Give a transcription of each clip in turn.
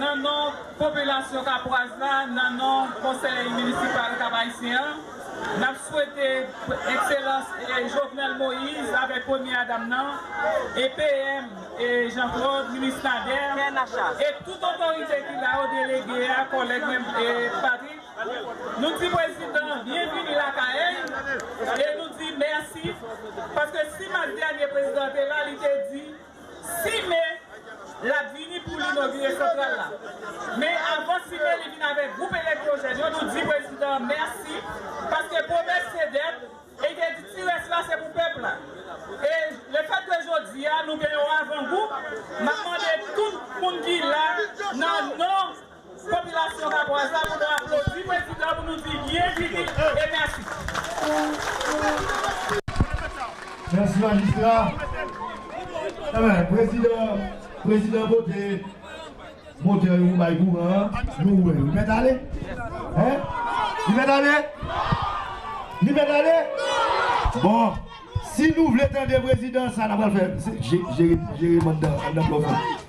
Nan non popilasyon kapwaz la, nan non konsèy minisipal Kap Ayisyen an, n ap swete Ekselans Jovenel Moïse avèk Premyè Dam nan e PM Jean Claude, Minis Nader e tout otorite ki la yo, delege a, kòlèg mwen Patrick, Nou di prezidan byen vini lakay e nou di mèsi paske si mas dènye prezidan te la li te di si me lap vini pou li nogire santral la men avan si me li vin avèk gwoup elektwojèn yo nou di prezidan mèsi paske pwomès se dèt e te di ti rès la se pou pèp la e le fèt ke jodi a nou gen yon avangou map mande tout moun ki la nan non Popilasyon Kaporal sa pou nou aplodi prezidan pou nou di byen vini e mèsi. Mèsi majistra. Enben prezidan prezidan pote motè yo pou bay kouran an nou wè li mèt ale hein li mèt ale li mèt ale bon si nou vle tande prezidan sa na pral fè jere jere mandan andan blòfè.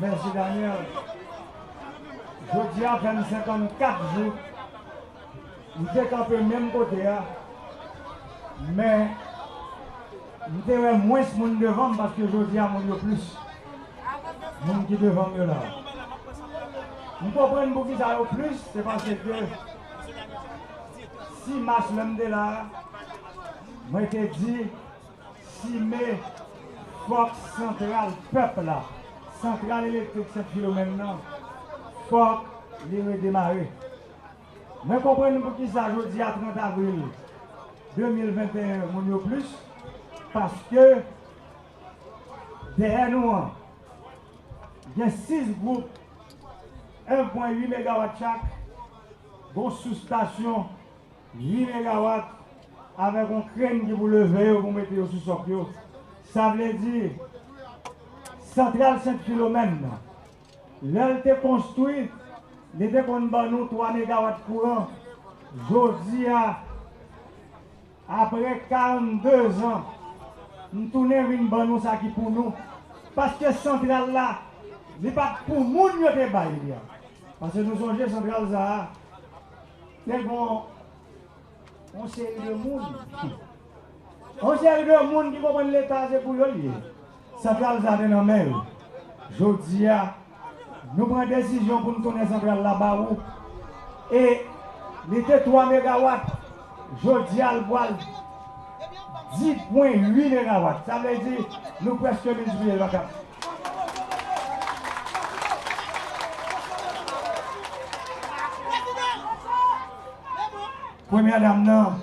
Mèsi Daniel Jodia fèm 54 jou m te kanpe menm kote a men m te wè mwens moun devanm paske jodia moun yo plis moun ki devanm yo la m konprann poukisa yo plis se paske 6 mas lè m te la a, mwen te di Chimè fòk santral pèp la, santral elektrik Sent Filomèn nan fòk li redemare. Mwen konprann pou ki sa jodi a 30 avril 2021 moun yo plis paske dèyè nou an gen 6 gwoup 1,8 megawat chak, Gon sous stasyon ui megawat avek yon kren ki pou leve yo pou mete yo sou sòk yo sa vle di santral sent filomèn nan lèl te konstwi li te konn ban nou 3 megawat kouran jodia Aprè 42 zan, m tounen vin ban nou sa ki pou nou, paske santral la, li pa t pou moun yo te bay li an. Paske nou sonje santral sa a, te gon yon seri de moun, yon seri de moun ki konprann Leta se pou yo l ye. Santral sa te nan men yo. Jodi a, nou pran desizyon pou n tounen santral la ba ou. E li te 3 megawat, jodi a l pral 10 pwen 8 megawat. Sa vle di nou prèske miltipliye l pa 4. Premyè dam nan.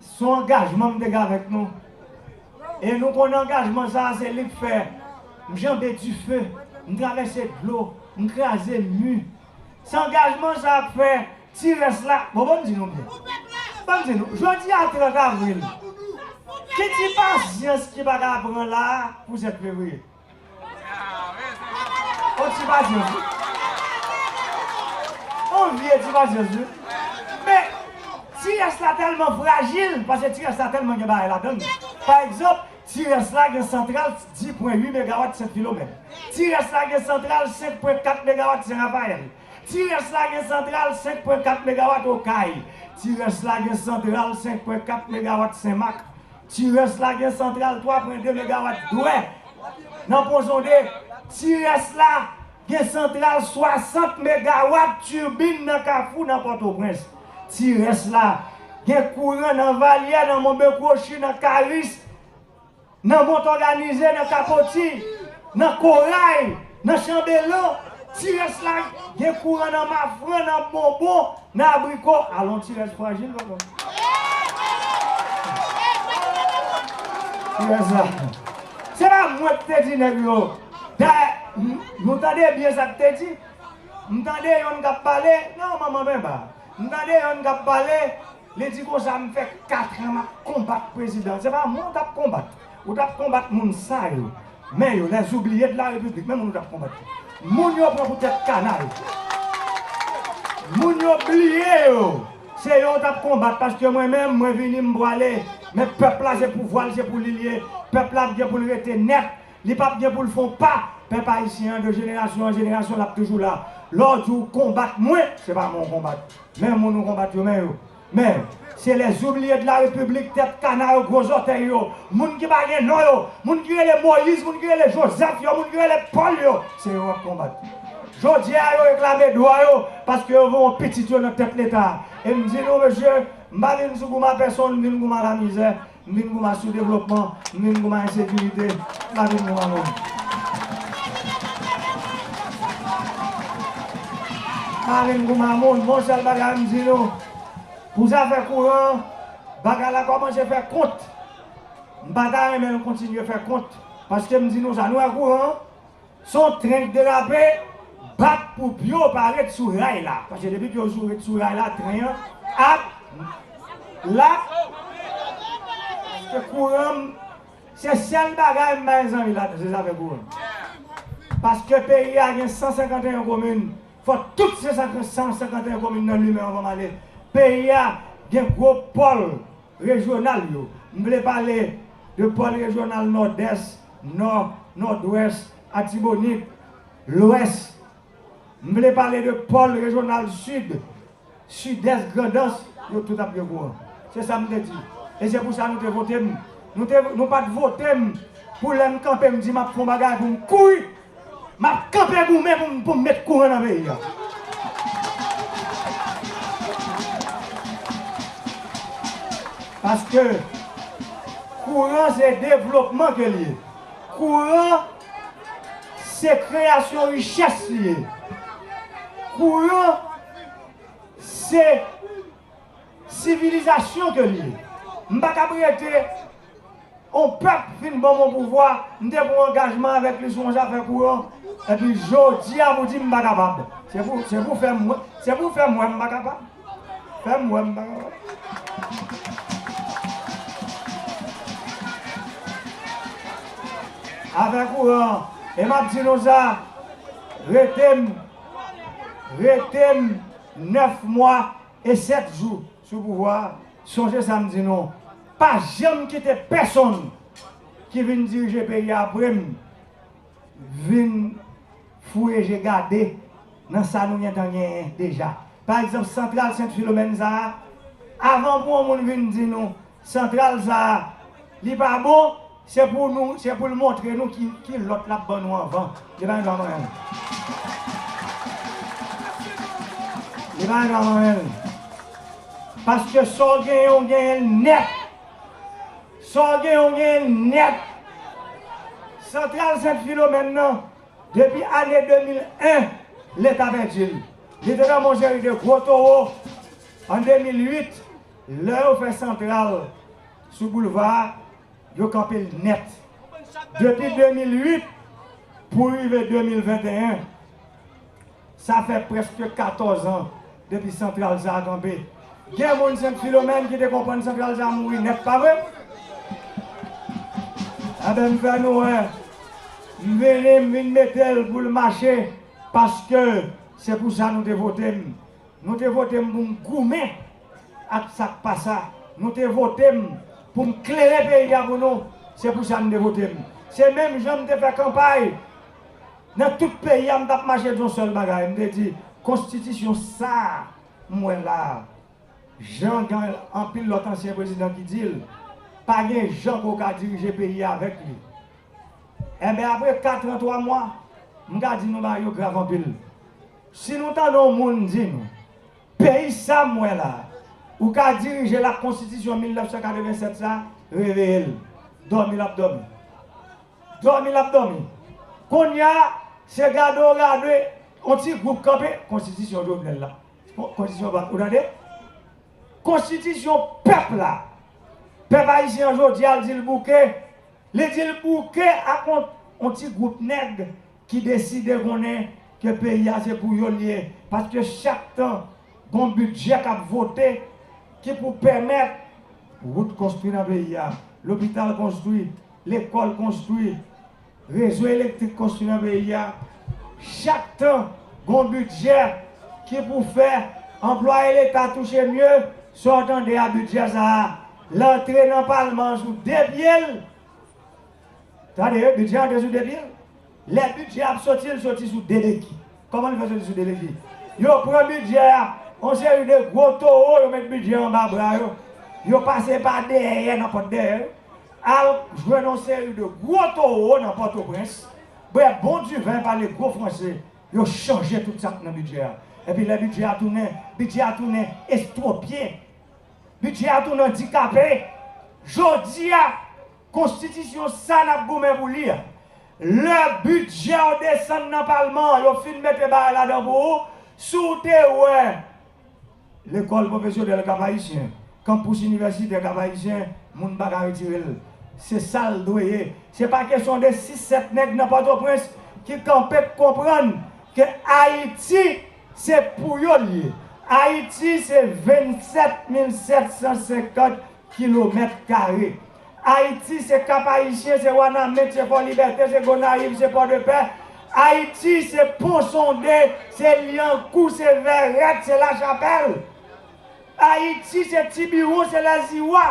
Se yon angajman m te gen avèk nou. E nou konnen angajman sa a se li k fè m janbe dife, m travèse dlo, m kraze mi. Se angajman sa a k fè ti rès la, bon ban m di nou byen, ban m di nou, jodi a 30 avril, ki ti pasyans ki pa ka pran la a pou 7 fevriye? On ti pasyans wi. On vye ti pasyans wi. Men, ti rès la tèlman frajil, pase ti rès la tèlman gen bagay ladan li. Pa egzanp, ti rès la gen santral 10 pwen 8 megawat 7 kilomèt. Ti rès la gen santral 5 pwen 4 megawat Sen Rafayèl. Ti rès la gen santral 5 pwen 4 megawat Okay. Ti rès la gen santral 5 pwen 4 megawat Sen Mak. Tirès la gen santral 3 pwen 2 megawat dwè nan pon zonde. Tirès la gen santral 60 megawat turbine nan kafou nan pòtoprens. Tirès la gen kouran nan valyè nan monbe kwochi nan karis nan mont òganize nan kapoti nan koray. Nan chanbelan, ti rès la gen kouran nan mafran, nan bonbon, nan abriko, alon ti rès frajil la menm. Ti rès la. Se pa mwen ki te di nèg yo. Dayè, nou tande byen sa ki te di? M tande yonn k ap pale, nan manman Benba. M tande yonn k ap pale, li di konsa m fè katran m ap konbat prezidan. Se pa mwen w t ap konbat. Ou tap konbat moun sa yo. Men yo les oubliye de la repiblik. Men moun ou tap konbat yo. Moun yo pran pou tet kanal. Moun yo bliye yo. Se yo ou tap konbat. Paske mwen menm mwen vini m pwale. Men pep la se pou vwal se pou li liye. Pep la ap gen pou l rete net. Li pap gen pou l fon pa. Pep ayisyen an de jenerasyon an jenerasyon lap toujou la. Le w di w konbat mwen. Se pa mwen ou konbat. Men moun ou konbat yo men yo. Men, se lè zoubliye de la repiblik, tèt kana yo, gwo zòtèy yo, moun ki pa gen non yo, moun ki rele Moyiz, moun ki rele Jozèf yo, moun ki rele Pòl yo, se yo w ap konbat. Jodi a, yo reklame dwa yo paske yo voye pitit yo nan tèt Leta a. E m di nou, mesye, m pa vin sou gouman pèsonn, m vin gouman lamizè. Min Goma sou devlopman, min Goma ensekirite, la min Goma mouri. La min Goma mouri. M'en yon sèl bagay m di nou, pou zafè kouran an, bagay la kòmanse fè kont. M pa ta renmen l kontinye fè kont, paske m di nou sa, nou wè kouran an? Son tren k derape, bat pou pyo pa ret sou ray la. Paske depi pyo jou ret sou ray la, tren an ap lap. Paske kouran m, se sèl bagay m bay zanmi la, se zafè kouran. Paske peyi a gen 151 komin, fò tout 151 komin nan limen anvan m ale. Peyi a gen gwo pòl rejyonal yo. M vle pale de pòl rejyonal Nòdès. Nò, Nòdwès, Atibonit, Lwès. M vle pale de pòl rejyonal Sid, Sidès, Grandans, yo tout ap gen kouran. Se sa m te di. E se pou sa nou te vote m. Nou te, nou pa t vote m pou lè m kanpe m di m ap fè yon bagay pou m kouri Map kanpe goumen poum met kouran nan peyi a. Paske kouran se devlopman ke li ye. Kouran se kreyasyon richès li ye. Kouran se. Sivilizasyon ke li ye. M pa kab rete on pèp fin ban m on pouvwa, m te pran angajman avèk li sou on zafè kouran, epi jodi a pou di m pa kapab. Se pou, se pou fè m wè, se pou fè m wè m pa kapab. Fè m wè m pa kapab. Afè kouran, e m ap di nou sa, rete m. Rete m 9 mwa e 7 jou sou pouvwa a, sonje sa m di nou, pa janm kite pèsonn ki vin dirije peyi a apre m vin fouye je gade nan sa nou gentan genyen deja. Pa egzanp santral Sent Filomèn sa a, avan pou yon moun vin di nou santral sa a li pa bon, Se pou nou, se pou l montre nou ki ki lòt l ap ban nou anvan. Li pa gen dwa manyen l. Li pa gen dwa manyen l. Paske sa w genyen, w genyen l nèt. Sa w genyen, w genyen l nèt. Santral Sent Filomèn nan, depi ane 2001, Leta pèdi l. Li te nan men yon seri de gwo towo. An 2008, lè yo fè santral sou boulva a, Yo kanpe l nèt. Depi 2008 pou rive 2021, sa fè prèske 14 an depi santral sa a kanpe. Gen moun Sent Filomèn ki te konprann santral sa a mouri nèt, pa vre? Enben, m fè nou wè, m vini, m vin mete l pou l mache paske se pou sa nou te vote m. Nou te vote m pou m goumen Ak sa k pa sa, nou te vote m pou m klere peyi a pou nou, se pou sa n te vote m. Se menm jan m te fè kanpay nan tout peyi a, m t ap mache di yon sèl bagay, m te di, Konstitisyon sa a m wè la a, jan gen anpil lòt ansyen prezidan ki di l, pa gen jan pou w ka dirije peyi a avèk li. Enben, apre katran twa mwa, m ka di nou bagay yo grav anpil. Si nou tande yon moun di nou. Peyi sa m wè la, ou ka dirije l ak konstitisyon 1987 sa, reveye l. Dòmi l ap dòmi. Dòmi l ap dòmi. Konnya se gade w gade yon ti gwoup kanpe, konstitisyon Jovenel la. Konstitisyon pa ou tande? Konstitisyon pèp la. Pèp ayisyen an jodi a l di l bouke. Li di l bouke ak yon ti gwoup nèg. ki deside konnen ke peyi a se pou yo li ye, paske chak tan gon bidjè kap vote ki pou pèmèt wout konstwi nan peyi a, lopital konstwi, lekòl konstwi, rezo elektrik konstwi nan peyi a, chak tan gon bidjè ki pou fè anplwaye leta touche mye, sa w tande a bidjè sa a l antre nan palman an sou 2 pye l, Tande, bidjè a te sou 2 pye. Lè bidjè a ap soti, l soti sou 2 beki. Kòman li fè soti sou 2 beki? Yo pran bidjè a, yon seri de gwo towo, yo met bidjè a anba bra yo, yo pase pa dèyè nan pòt dèyè yo, al jwenn yon seri de gwo towo nan Pòtoprens, bwè bon diven, pale gwo franse, yo chanje tout sa k nan bidjè a. Epi lè bidjè a tounen, bidjè a tounen estwopye. Bidjè a tounen andikape. Jodi a. Konstitisyon sa nap goumen pou li a. Lè bidjè w desann nan palman an yo fin mete bagay ladan pou ou, si w te wè lekòl pwofesyonèl Kap Ayisyen, kanpous inivèsitè Kap Ayisyen moun pa ka retire l. Se sa l dwe ye. Se pa kesyon de 6, 7 nèg nan Pòtoprens ki kanpe k konprann ke Ayiti se pou yo l ye. Ayiti se 27 mil 750 kilomèt kare. Ayiti se Kap-Ayisyen, se Wanament, se Fòlibète, se Gonayiv, se Pòdepè. Ayiti se Ponsonde, se Lyankou, se Vèrèt, se Lachapèl. Ayiti se Tibiwon, se Lèziwa,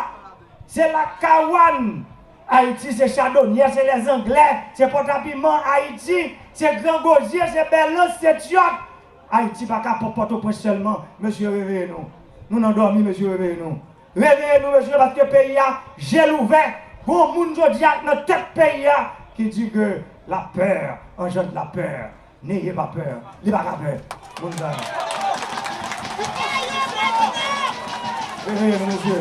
se Lakawann. Ayiti se Chadonyè, se Lèzanglè, se Pòtapiman. Ayiti se Grangozye, se Bèlans, se Tyòt. Ayiti pa ka pòp Pòtoprens sèlman mesye reveye nou nou nan dòmi mesye reveye nou reveye nou mesye paske peyi a je l ouvè gon moun jodi a k nan tèt peyi a ki di ke la peur engendre la peur neye pa peur li pa ka pè moun sa yo reveye nou mesye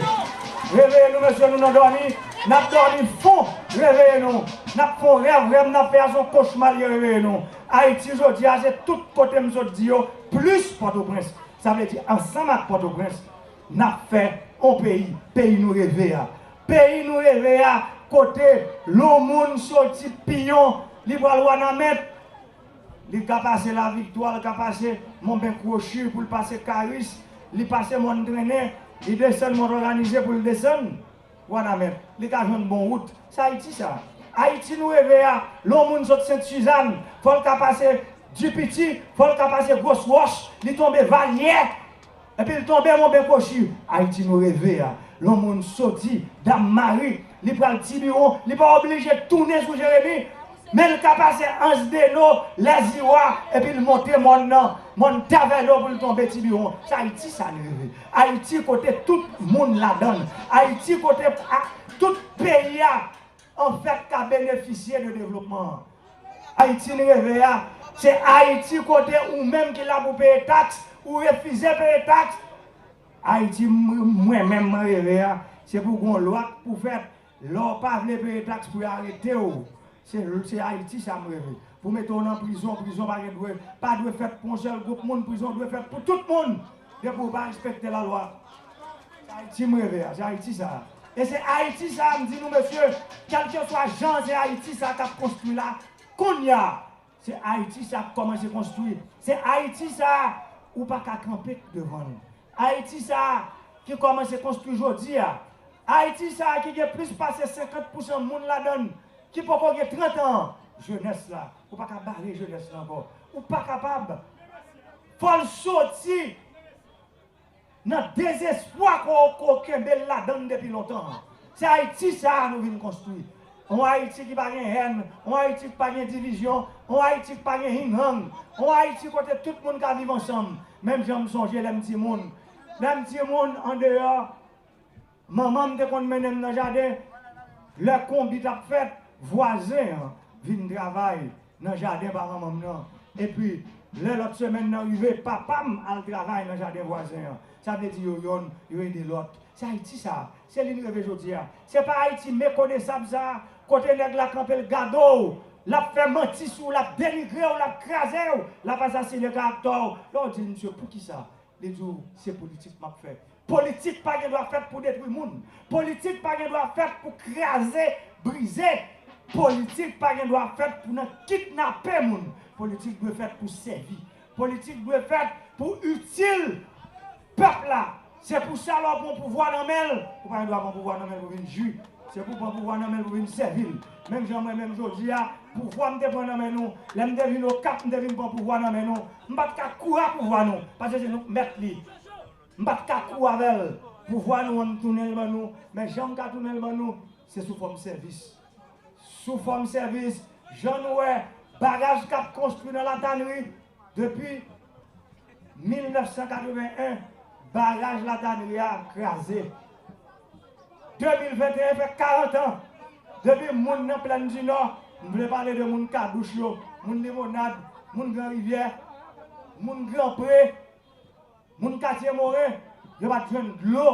reveye nou mesye nou nan dòmi nap dòmi fon reveye nou nap fon rèv rèv nap fè a son kochma l ye reveye nou. Ayiti jodi a se tout kote m sot di yo plis Pòtoprens. Sa vle di ansanm ak Pòtoprens n ap fè yon peyi, peyi nou reve a. Peyi nou reve a kote yon moun soti Piyon li pral Wanament, li ka pase Laviktwa, li ka pase Monben Kwochi pou l pase Karis, li pase Mòn Trennen, li desann Mòn Òganize pou l desann. Wanament, li ka jwenn bon wout. Se Ayiti sa. Ayiti nou reve a, lè yon moun sot Sent Suzanne, fò l ka pase Dipiti, fò l ka pase Gros Roche, li tonbe Valyè, epi l tonbe Monbenkochi. Ayiti nou reve a, lè yon moun soti Dam Mari, li pral Tibiwon, li pa oblije tounen sou Jeremi, men l ka pase Ansdeno, Lèziwa, epi l monte mòn nan, mòn Tavèlo pou l tonbe Tibiwon. Se Ayiti sa n reve. Ayiti kote tout moun ladann. Ayiti kote tout peyi a an fèt ka benefisye de devlopman an. Ayiti n reve a, se Ayiti kote ou menm ki la pou peye taks, ou refize peye taks. Ayiti mwen menm mwen reve a, se pou gon lwa k pou fèt, Lè w pa vle peye tax pou yo arete w se se ayiti sa m reve pou mete w nan prizon prizon pa gen dwe pa dwe fèt pou yon sèl gwoup moun prizon dwe fèt pou tout moun depi w pa respekte la lwa se ayiti m reve a se ayiti sa e se ayiti sa m di nou mesye kèlkeswa jan se ayiti sa kap konstwi la kounya. Se Ayiti sa k kòmanse konstwi. Se Ayiti sa a ou pa ka kanpe devan l. Ayiti sa a ki kòmanse konstwi jodi a. Ayiti sa a ki gen plis pase 50 pousan moun ladan l ki poko gen 30 an. Jenès la, ou pa ka bare jenès la ankò. Ou pa kapab. Fò l soti. Nan dezespwa kò w kò w kenbe l ladan l depi lontan an. Se Ayiti sa a nou vin konstwi. Yon Ayiti ki pa gen hèn, yon Ayiti k pa gen divizyon, yon Ayiti k pa gen hing hang, yon Ayiti kote tout moun ka viv ansanm, menm jan m sonje lè m timoun. Lè m timoun, andeyò. Manman m te konn mennen m nan jaden. Lè konbit ap fèt, vwazen an vin travay nan jaden pa manman m nan. Epi, lè lòt semèn nan rive, papa m al travay nan jaden vwazen an. Sa vle di yo yonn, yo ede lòt. Se Ayiti sa a. Se li n reve jodi a. Se pa Ayiti mekonesab sa a, kote nèg la kanpe l gade w, l ap fè manti sou w, l ap denigre w, l ap kraze w, l ap asasinen karaktè w. Lè w di l, Msye, poukisa Li di w, se politik m ap fè. Politik pa gen dwa fèt pou detwi moun. Politik pa gen dwa fèt pou kraze, brize. Politik pa gen dwa fèt pou nan kidnape moun. Politik dwe fèt pou sèvi. Politik dwe fèt pou itil pèp la. Se pou sa lè w pran pouvwa nan men l, ou pa gen dwa pran pouvwa nan men l pou vin jwi. Se pou w pran pouvwa nan men l pou vin sèvi l. Menm jan mwen menm jodi a, pouvwa m te pran nan men nou, lè m te vin Okap m te vin pran pouvwa nan men nou. M pa t ka kou a pouvwa nou, paske se nou k mèt li. M pa t ka kou avè l. Pouvwa nou an m tounen l ban nou, men jan m ka tounen l ban nou, se sou fòm sèvis. Sou fòm sèvis, jan nou wè baraj k ap konstwi nan Latanri depi 1981, baraj Latanri a kraze. 2021 fè 40 an depi moun nan Plèn di Nò, m vle pale de moun Kadouch yo, moun Limonad, moun Gran Rivyè, moun Gran Pre, moun Katye Moren, yo pa t jwenn dlo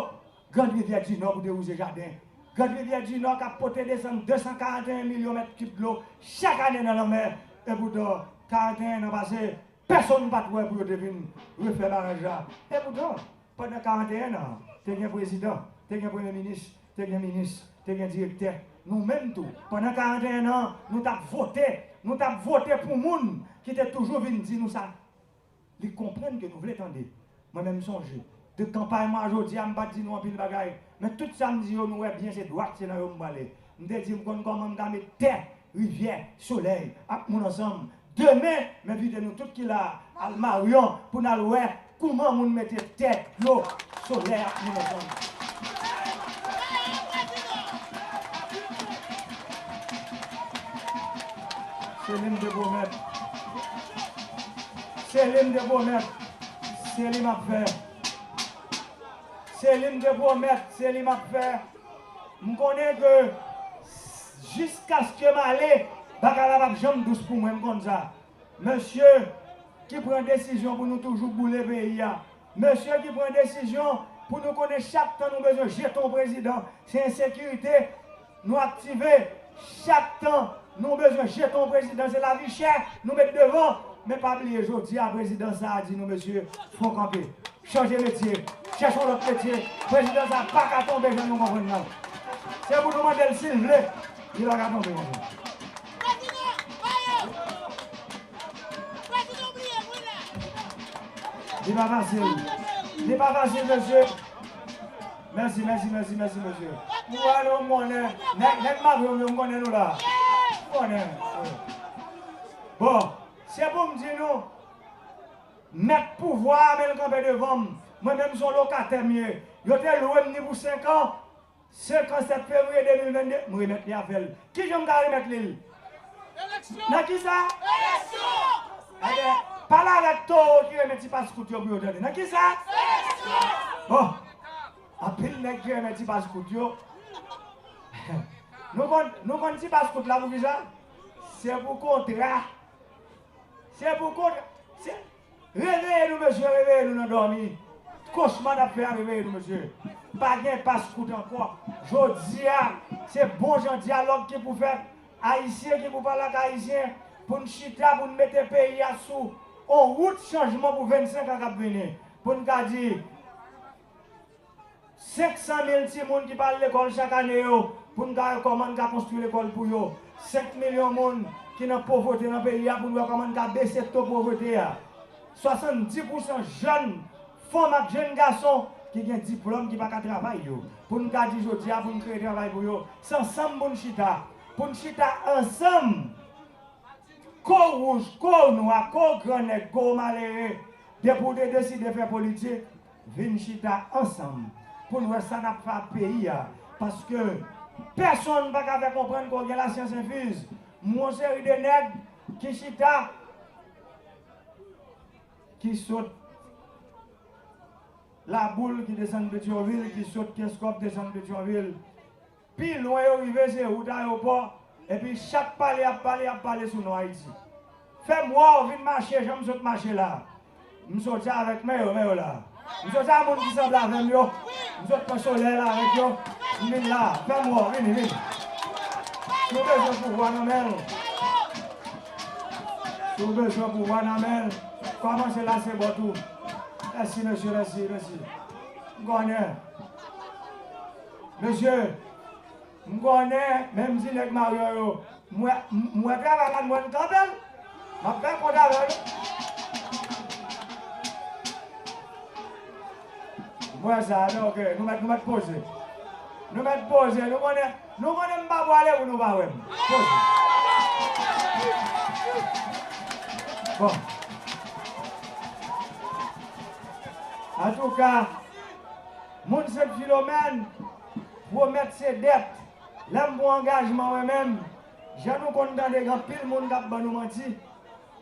Grand Rivyè di Nò pou dewouze jaden. Grand Rivyè di Nò k ap pote desann 241 milyon mèt kib dlo chak ane nan lanmè. Epoutan, 41 nan pase, pèsonn pa t wè pou yo te vin refè baraj la. Epoutan. Pandan 41 nan, te gen prezidan, te gen premye minis, te gen minis, te gen direktè. Nou menm tou, pandan 41 nan, nou t ap vote. Nou t ap vote pou moun ki te toujou vin di nou sa li konprann ke nou vle tande. Mwen menm sonje, de kanpay mwen a jodi a, m pa t di nou anpil bagay. Men tout sa m di yo, nou wè byen se dwat, se nan yo m prale. M te di m konn kòman m ka met tè, rivyè, solèy ak moun ansanm. Demen, m envite nou tout ki la a al Maryon pou n al wè kouman moun mete tè, dlo, solèy ak moun ansanm. Selim te pwomèt. Selim te pwomèt. Selim ap fè. Selim te pwomèt. Selim ap fè. M konnen ke jiskaske m ale, bagay la pap janm dous pou mwen, m konn sa. Mesye ki pran desizyon pou nou toujou boule peyi a, mesye ki pran desizyon pou nou konnen chak tan nou bezwen jete yon prezidan, se ensekirite nou aktive, chak tan nou bezwen jete yon prezidan, se lavi chè nou met devan. Men pa bliye jodi a prezidan sa a di nou, mesye, fon kanpe. Chanje metye, chèche yon lòt metye, prezidan sa a paka tonbe jan nou konprann nan. Se pou nou mande l si l vle, li pa ka tonbe konsa. Li pa fasil, li pa fasil mesye. Mèsi, mèsi, mèsi, mèsi mesye. M wè nou, m konnen, nèg, nèg mavyon m yo m konnen nou la. M konnen. Bon, se pou m di nou, Mèt pouvwa a menm kanpe devan m. Mwen menm s on lokatè m ye. Yo te lwe m ni pou senkan. Senkan 7 fevriye 2022, m remèt li avè l. Kijan m ka remèt li l? Eleksyon! Nan kisa? Eleksyon! Ebyen, pale avèk towo ki renmen ti pas kout yo pou yo tande. Nan kisa? Eleksyon! Bon! Anpil nèg ki renmen ti pas kout yo. Nou konn ti pas kout la pou kisa? Se pou kontra. Se pou kont se Reveye nou mesye reveye nou nan dòmi kochma nap fè a reveye nou mesye pa gen pas kout ankò jodia se bon jan dyalòg ki pou fèt ayisyen ki pou pale ak ayisyen poun chita poun mete peyi a sou on wout chanjman pou 25 an kap vini poun ka di. 500 mil timoun ki pa al lekòl chak ane yo pou n ka wè kòman n ka konstwi lekòl pou yo. 5 milyon moun ki nan povrete nan peyi a pou n wè kòman n ka bese to povrete a. 70 pousan jèn fanm ak jèn gason ki gen diplòm ki pa ka travay yo pou n ka di jodi a pou n kreye travay pou yo. Se ansanm pou n chita. Pou n chita ansanm ko w wouj, ko w nwa, ko w gran nèg, ko w malere depi w te deside fè politik. vin chita ansanm pou n wè sa n ap fè ak peyi a paske pèsonn pa ka fè konprann ke w gen lasyans enfiz mwen yon seri de nèg ki chita ki sot Laboul ki desann Petyonvil ki sot Kenscoff desann Petyonvil. Pi lwen yo rive se wout ayopò epi chak pale yap pale yap pale sou non Ayiti. Fèm wèw vin mache jan m sot mache la. M soti avèk men yo men yo la. M soti a moun ki sanble avèm yo. M sot pran solèy la avèk yo. M vin la. Fèm wèw vini vini. Si w bezwen pouvwa nan men l. Si w bezwen pouvwa nan men l. Kòmanse la se bò tou. Mèsi mesye mèsi mèsi. M konnen. Mesye M konnen men m di nèg Mario yo M wè M wè travay la m wè m kanpe l M ap fè kont avè l M wè sa men ok Nou mèt nou mèt poze Nou mèt poze Nou konnen Nou konnen m pa pwale pou nou pa wè m Poze Bon Antouka. Moun Sent Filomèn, pwomèt se dèt, lè m pran angajman mwen menm, jan nou konn tande gen anpil moun k ap ban nou manti,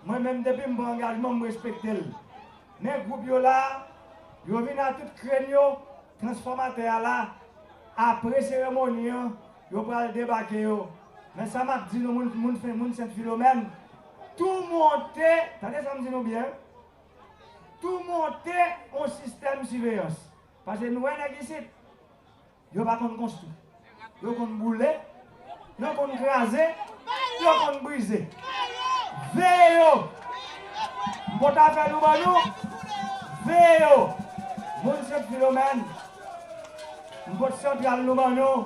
mwen menm depi m pran angajman m respekte l. Men gwoup yo la, yo vin a tout krenn yo, transfòmatè a la, apre seremoni an, yo pral debake yo. Men sa m ap di nou moun Sent Filomèn, tou monte, tande sa m di nou byen, tou monte yon sistèm siveyans. Pase nou wè nèg isit, yo pa konn konstwi. Yo konn boule, yo konn kraze, yo konn brize. Veye yo! M pot apèl ou ban nou, veye yo! Moun Sent Filomèn, m pot santral nou ban nou.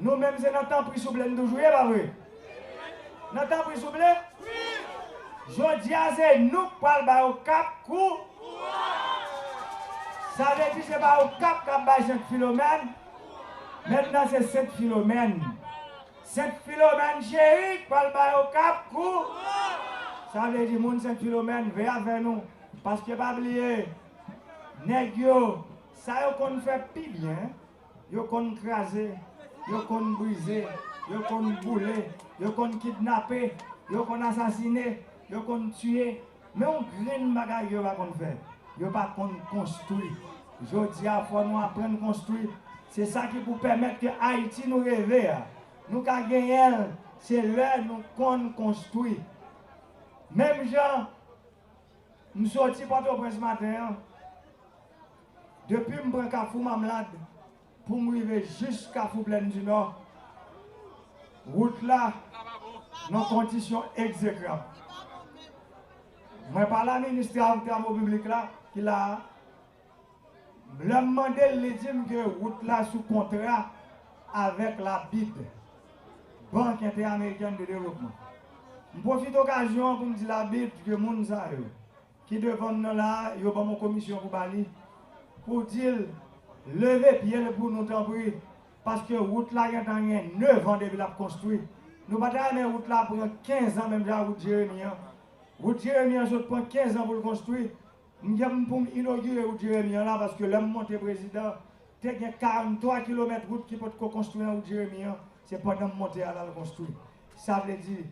Nou menm se nan tanpri souple n toujou ye pa vre? Nan tanpri souple? Jodi a se nou k pral ba yo kap kou rans. Sa vle di se pa yo kap k ap bay Sent Filomèn kou rans. Mentnan se Sent Filomèn, Sent Filomèn cheri k pral ba yo kap kou rans. Sa vle di moun Sent Filomèn veye avè nou paske pa bliye nèg yo sa yo konn fè pi byen. Yo konn kraze, yo konn brize, yo konn boule, yo konn kidnape, yo konn asasine, yo konn tiye, men yon grenn bagay yo pa konn fè, yo pa konn konstwi. Jodi a fò nou aprann konstwi, se sa ki pou pèmèt ke Ayiti nou reve a, nou ka genyen l, se lè nou konn konstwi. Menm jan m soti Pòtoprens maten an. Depi m pran Kafou Mamlad pou m rive jis Kafou Plèndinò, wout la nan kondisyon egzekrab. Mwen pale a minis Travo Piblik la ki la a, lè m mande l, li di m ke wout la sou kontra avèk la bid, Bank Entè-Amerikèn de Devlopman. M pwofite okazyon an pou m di la bid ke moun sa yo, Ki devanm nan la yo banm on komisyon pou bali pou dil leve pyel pou nou tanpri paske wout la gentan gen 9 an depi lap konstwi nou pata renmen wout la pran 15 an menm jan ak wout jeremi an wout jeremi an sot pran 15 an poul konstwi m gen poum inogire wout jeremi an la paske lèm monte prezidan te gen 43 kilomèt wout ki potko konstwi nan wout jeremi an se pandanm monte a lal konstwi sa vle di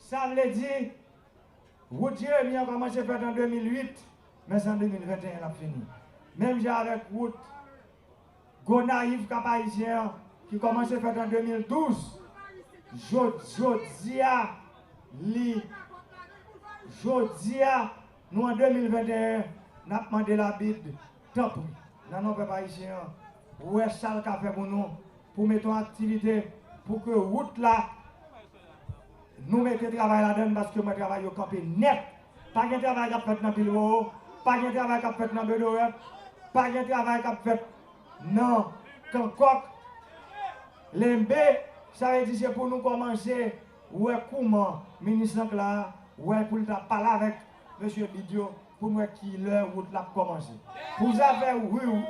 Sa vle di, wout Jeremi an kòmanse fèt an 2008, men se an 2021 l ap fini. Menm jan avèk wout Gonayiv, Kap Ayisyen an ki kòmanse fèt an 2012, jodi a li jodi a nou an 2021 n ap mande labid Tanpri, nan non pèp ayisyen an, wè sa l ka fè pou nou, pou mete yon aktivite pou ke wout la, nou mete travay ladan l, paske mwen travay yo kanpe nèt. Pa gen travay k ap fèt nan Bilbao, pa gen travay k ap fèt nan Bedorèf, pa gen travay k ap fèt nan Kankòk, Lenbe. Sa vle di se pou nou kòmanse wè kouman minis lan k la a wè pou l ta pale avèk Mesye bid yo pou m wè ki lè wout la ap kòmanse. Pou zafè ri w,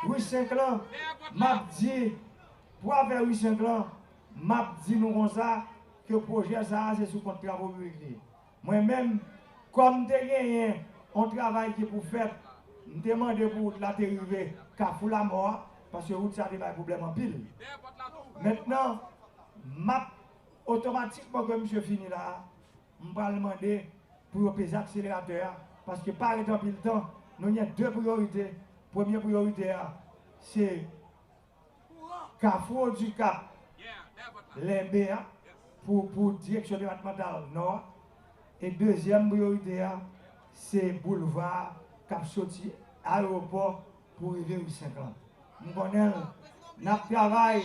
ri 5 lan, m ap di, pou afè ri 5 lan, m ap di nou konsa ke pwojè sa a se sou kont travo piblik li ye. Mwen menm, kòm m te genyen yon travay ki pou fèt, m te mande pou wout la te rive Kafou Lamò a, paske wout sa a te bay pwoblèm anpil. Mentnan, m ap otomatikman ke misye fini la a, M pral mande pou yo peze akseleratè a paske pa ret anpil tan, nou gen 2 priyorite, premye priyorite a se kafou Okap Lenbe a pou direksyon depatmantal nò a e dezyèm priyorite a se boulva kap soti ayewopò Pou rive m 5 lan. M konnen l. N ap travay,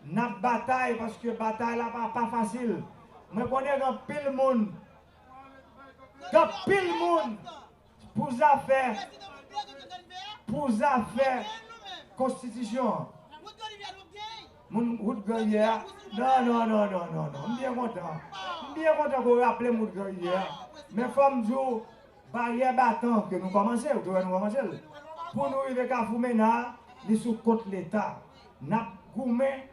n ap batay paske batay la pa pa fasil. Mwen konnen gen anpil moun, gen anpil moun pou zafè, pou zafè konstitisyon an. Moun wout gran rivyè a. Non, non, non, non, non, non. M byen kontan. M byen kontan ke w raple m wout gran rivyè a. Men fò m di w. Baryè batan ke nou kòmanse, ou te wè nou kòmanse l, pou nou rive Kafou Mena a, li sou kont Leta. N ap goumen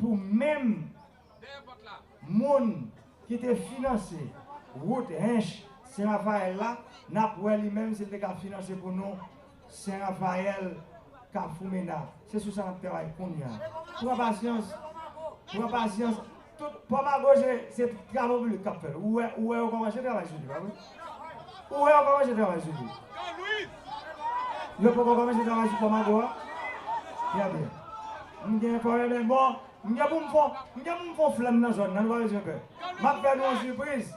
pou menm moun ki te finanse wout Hinche, Sen Rafael la, n ap wè li menm si l te ka finanse pou nou Sen Rafael, Kafou Mena, se sou sa n ap travay kounya. Pran pasyans, pran pasyans. Tout, Pò Mago se, se travo piblik k ap fè l. Ou wè, ou wè yo kòmanse travay sou li, pa vre? Ou wè yo kòmanse travay sou li. Yo poko kòmanse travay sou Pò Mago a? Trè byen. M gen kò renmen. Bon, m gen pou m fon, m gen pou m fon flèm nan zòn nan, nou pa bezwen pè. M ap fè nou yon sipriz.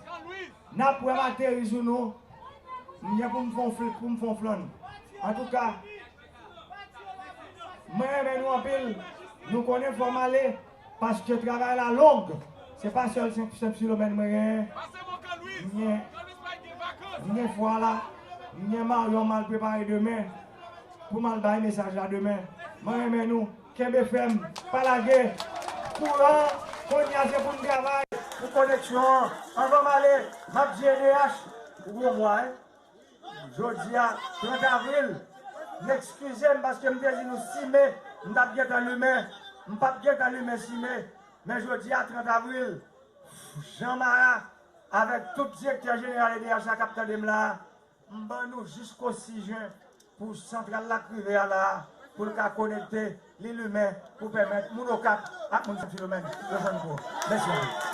Nap wè m ateri sou nou. M gen pou m fon flip pou m fon flonn. Antouka Mwen renmen nou anpil. Nou konnen fò m ale paske travay la long. Se pa sèl senp silomèn mwen genyen. M gen M gen fwa la. M gen maryon m al prepare demen pou m al bay mesaj la demen. Mwen renmen nou. Kenbe fèm, pa lage. Kouran, konnya se poun travay. Pou koneksyon an, anvan m ale, m ap di edh, ou gwo mwa wi. Jodi a 30 avril, n ekskize m paske m te di nou 6 me, m t ap gentan limen, m pap gentan limen 6 me, men jodi a 30 avril, Jean Mara avèk tout direktè jeneral edh la k ap tande m la, M ban nou jisko 6 jen pou santral la k rive a la a, pou l ka konekte, li limen pou pèmèt moun Okap ak moun Sen Filomèn yo jwenn kou. Mèsi anpil.